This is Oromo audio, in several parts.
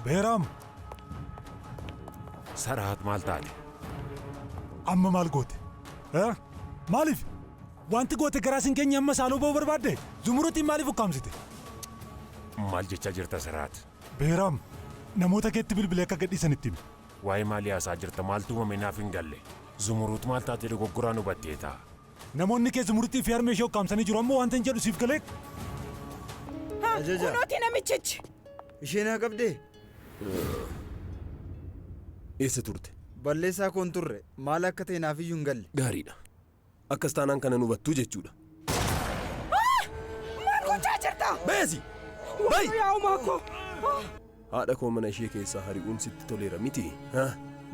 Beeraam! Saraat maal taate? Amma maal goote? Eh? Maaliif? Wanti goote garaa sin keenya amma saaloo ba'uu barbaadde? Zumurutiin maaliif ukkaamsite? Maal jechaa jirta Saraat? Beeraam! Namoota keetti bilbilee akka gadhiisan itti himi. Waa'ee maalii haasa'a jirta maaltu uumame naaf hin galle. Zumuruut maal taatee dogoggoraan hubatteeta. Namoonni kee Zumuruttii fi harmee ishee ukkaamsanii jiru amma waantan jedhu siif galee? Ha! Ajaja. Kunooti namichichi! Ishee naa qabdee? Eessa turte? Balleessaa koo hin turre. Maal akka ta'e naaf iyyuu hin galle. Gaariidha. Akkas taanaan kana hin hubattu jechuudha. Maal gochaa jirta? Beesi! Bayi! Yaa umaa koo! Haadha koo mana ishee keessaa hari'uun sitti toleera miti. Ha?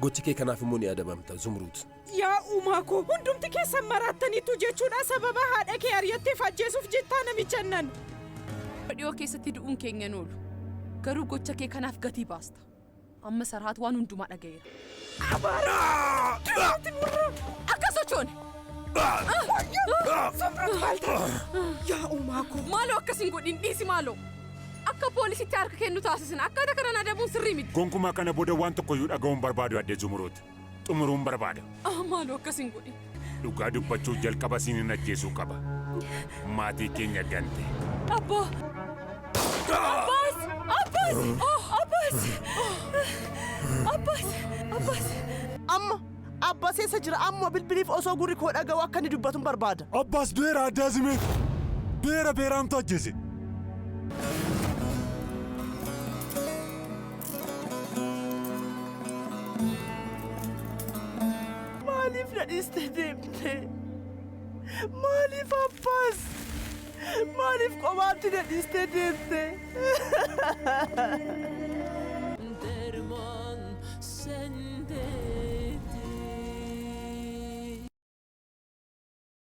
Gochi kee kanaaf immoo ni adabamta, Zumruut. Yaa umaa koo! Hundumti keessan maraattaniitu jechuudha sababa haadha kee ari'atteef ajjeesuuf jettaa namicha nan. Dhiyoo keessatti du'uun keenya hin oolu. Garuu gocha kee kanaaf gatii baasta. Amma Sarhaat waan hundumaa dhaga'eera. Abaara! Irratti murra! Akka sochoone! Samrat maal taate? Yaa uumaa koo! Maaloo akkas hin godhin dhiisi maaloo! Akka poolisitti harka kennu taasisin akkaataa kanaan adabuun sirrii miti. Gonkumaa kana booda waan tokkoyyuu dhaga'uun barbaadu Aadde Zumuruut. xumuruun barbaada. Ah, maaloo akkas hin godhin. Dhugaa dubbachuuf jalqaba siin hin ajjeesuu qaba. Maatii keenya gante. Abbaa! Abbaas! Abbaas! Oh, Abbaas! Abbaas! Abbaas! Amma Abbaas eessa jira? Amma bilbiliif osoo gurri koo dhaga'u akka inni dubbatu barbaada. Abbaas du'eera adda azimee. Du'eera beeraamtu ajjeese. Maaliif na dhiistee deemte? Maaliif abbaas? Maaliif qomaatti na dhiistee deemte? Derman sendeydi